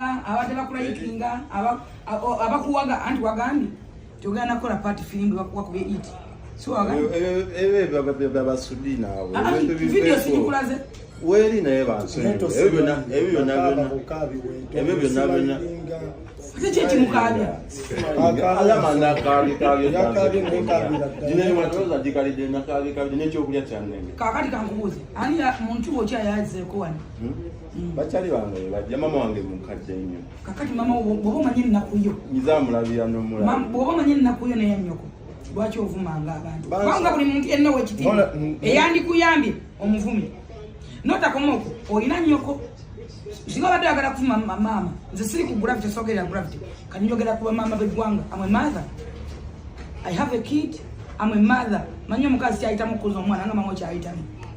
abadde bakulayikinga abakuwaga anti wagambye togenda kukola paati firimbi bakuwakuba iti byabasudi naawe ah, ah, weeri naye bansonyiwe ebyo byonna byonna ebyo byonna byonna kakati kankubuuze ani muntu wo ki ayazeeko wano hmm? Mm. bakyali bange bajja mama wange mukadde nnyo kakati mama bwoba omanye ennaku yo nyiza amulabira nomulabwoba omanye ennaku yo naye nyoko lwaki ovumanga abantu kubanga buli muntu yenna wekitiibwa mm, mm. eyandikuyambye omuvumi notakoma okwo olina nyoko singa obadde oyagala kuvuma maama nze siri ku gravity sogerera gravity kanyogera kuba maama beggwanga amwe mother i have a kid amwe mother manyi omukazi kyayitamu okukuza omwana nga mama okyayitamu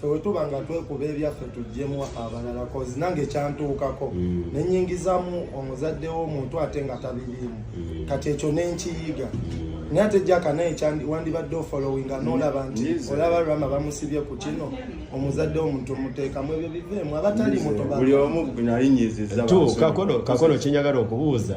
fewetuba nga twekuba ebyaffe tujjemu abalala kozi nange kyantuukako mm. nenyingizamu omuzadde womuntu ate nga tabiriimu mm. kati ekyo nenkiyiga mm. naye ate jaka naye wandibadde ofolowinga nolaba nti olaba rama bamusibye ku kino omuzadde womuntu muteekamu ebyo biveemu abatali mutokakono kyenyagala okubuuza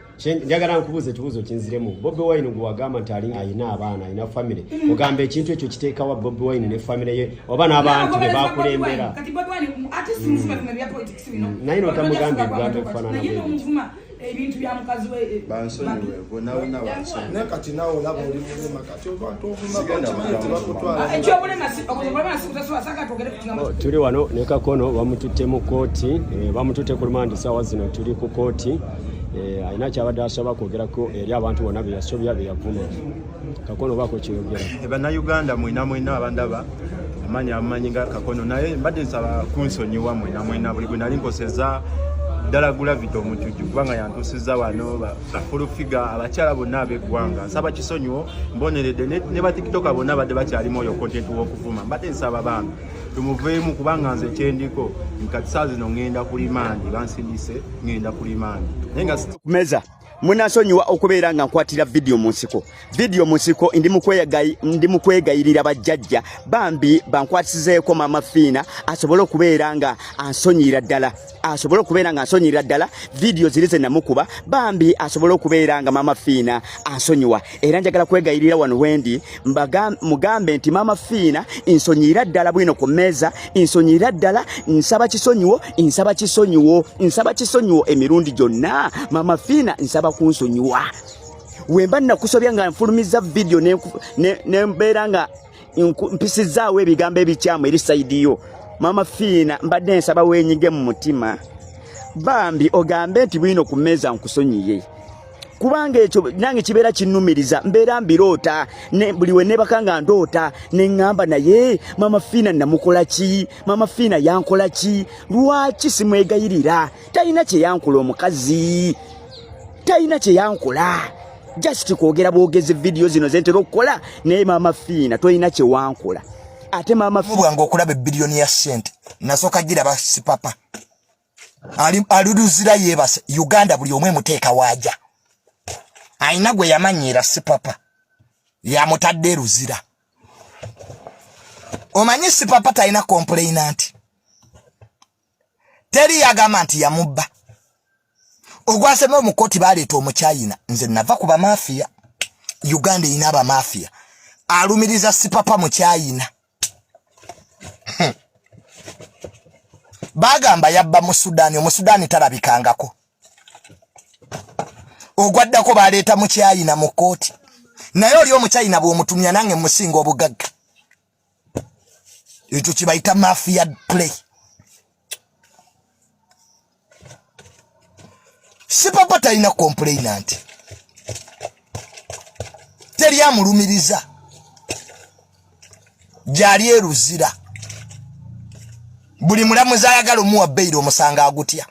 njagala nkubuuza ekibuuzo kinziremu bobi wine gwe wagamba nti alinga alina abaana alina famire ogamba ekintu ekyo kiteekawa bobi wine ne famire ye oba n'abantu be bakulembera naye notamugambye ebigambo ebifanana ebintu bya mukazi we eh, bansonyiwe gwe nawe nabansonyi naye kati nawe olaba oli mulema Oh, tuli wano ne kakono bamututte mu kooti eh, bamututte ku lumandi saawa zino tuli ku kooti eh, alina kyabadde asoba kwogerako eri abantu bona beyasobya beyavuma kakono bako kyeyogera eh, bannayuganda mwena mwena abandaba amanyi amanyi nga kakono naye mbadde nsaba kunsonyiwa mwena mwena buli gwe nali nkoseza ddala gulavita omujuju kubanga yantusiza wano bafulufiga abakyala bonna ab'eggwanga nsaba kisonyiwo mboneredde ne batikitoka bonna badde bakyalimu oyo kontenti w'okuvuma mbadde nsaba bambi tumuveemu kubanga nze ekyendiko nkati saa zino ŋŋenda ku limandi bansindise ŋŋenda ku limandi naye nga kumeza munasonyiwa okubeera nga nkwatira vidiyo mu nsiko video musiko ndi mukwegayi ndi mukwegayirira bajjajja bambi bankwatisizeeko mama fiina asobole okubeera nga ansonyira ddala asobole okubeera nga ansonyira ddala video ziri ze namukuba bambi asobole okubeera nga mama fiina ansonyiwa era njagala kwegayirira wano wendi mugambe nti mama fiina nsonyira ddala bwino ku mmeeza nsonyira ddala nsaba kisonyiwo nsaba kisonyiwo nsaba kisonyiwo emirundi gyonna mama fiina nsaba kunsonyiwa wemba nakusobya nga nfulumiza video nembeera nga mpisizaawo ebigambo ebikyamu eri saidi yo mama fiina mbadde nsaba wenyige mu mutima bambi ogambe nti bwino ku meeza nkusonyiye kubanga ekyo nange kibeera kinnumiriza mbeera mbiroota buli we nebaka nga ndoota ne ŋŋamba naye mama fiina namukola ki mama fiina yankola ki lwaki simwegayirira talina kye yankula omukazi talina kyeyankola just kwogera bwogezi vidiyo zino zentera okukola naye maama fiina tolina kyewankola ate maama bwange okulaba ebiriyoni ya sente nasooka giraba sipapa aluluzira yebase uganda buli omu emuteeka waaja alina gwe yamanyiira sipapa yamutadde eruzira omanyi sipapa talina kompuleyina nti teri yagamba nti yamubba ogwasema omukoti baleeta omuchayina nze nava ku bamafiya uganda erina abamafiya alumiriza sipapa muchayina hmm. bagamba yabba mu sudani omusudani talabikangako ogwaddako baleeta muchayina mu kooti naye oli omuchayina bwomutumya nange musinga obugagga ekyo kibayita mafia play sipapa talina kompuleyina nti teri amulumiriza gyali eruzira buli mulamuzi ayagala omuwa beyiro omusanga agutya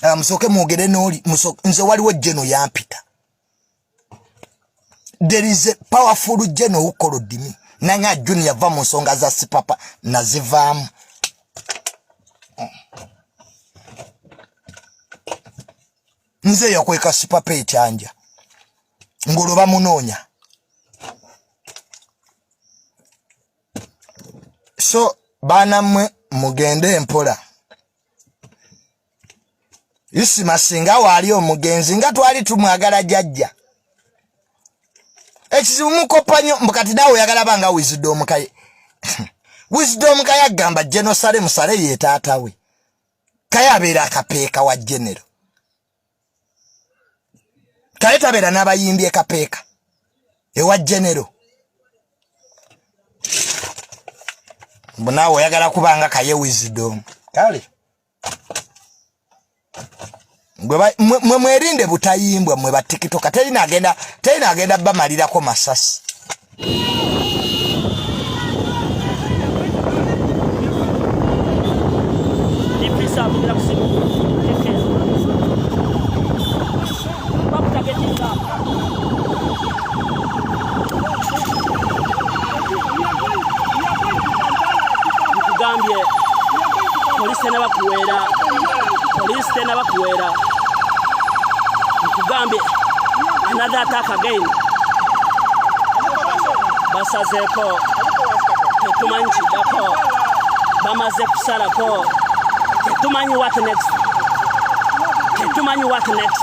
ah, musooke mwogere nooli nze waliwo jeno yampita there is a powerful general who called me nanga junior yava mu nsonga za sipapa nazivaamu nze yakweka sipapa ekyanja ng'olwo bamunoonya so baana mmwe mugende empola isima singa waali omugenzi nga twali tumwagala jajja ekizibu mukoppa nyo mbukati naawe oyagala banga wisdom kaye wisdom kaye agamba genosale musale yetaatawe kaye abeera akapeeka wa genero kaye tabeera n'abayimbi ekapeeka ewa genero mbu naawe oyagala kubanga kaye wisdom kale mwe mwerinde butayimbwa mwe batikitoka terina agenda terina agenda bamalirako masasi nkugambye polisi tenaba kuwera polisi tenaba kuwera nkugambye another attack again basazeeko tetumanyi kiddako bamaze kusalako tetumanyi what next tetumanyi what next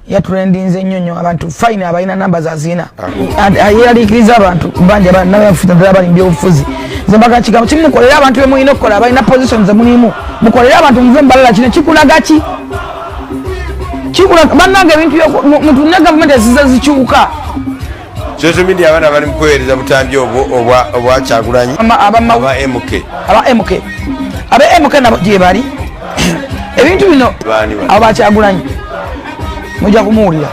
yaturendinze nnyo nnyo abantu fine abalina namba zazina ayeralikiriza abantu banja banabafuta ddala bali mubyobufuzi zembaga kigambo kimu mukolere abantu bemulina okukola abalina position zemulimu mukolere abantu muve mubalala kino kikulaga ki kikulaga bannange ebintu mutunne gavumenti eziza zikyuka social media abaana bali mukuweereza butambi obwo obwa kyagulanyi aba mk aba mk aba mk nabo gyebali ebintu bino abo bakyagulanyi mujja kumuwulira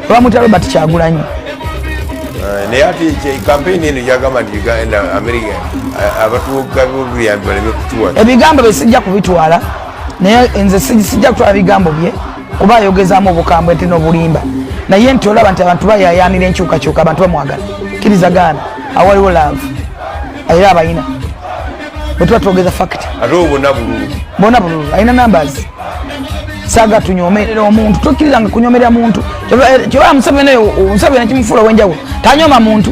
bamuta robert kyagulanyi eh, naye ati kampeyini eno gyagamba nti uganda amerika eh, abatuuka bobuyambi baleme kutuwa ebigambo bye sijja kubitwala naye nze sijja kutwala bigambo bye kuba ayogezamu obukambwe nti nobulimba naye nti olaba nti abantu bayayanira enkyukakyuka abantu bamwagala kiriza gaana awaliwo laavu era abayina bwetuba twogeza fakiti bona bululu alina nambazi saga tunyomerera omuntu tokkiriranga kunyomerera muntu kyoba museveni oyo museveni kimufuula owenjawulo tanyoma muntu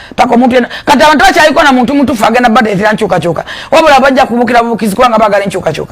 paka omuntu yena kati abantu bakyaliko na muntu mutufu agenda bateetera nkyukakyuka wabula bajja kubukira bubukizi kubanga bagala enkyukakyuka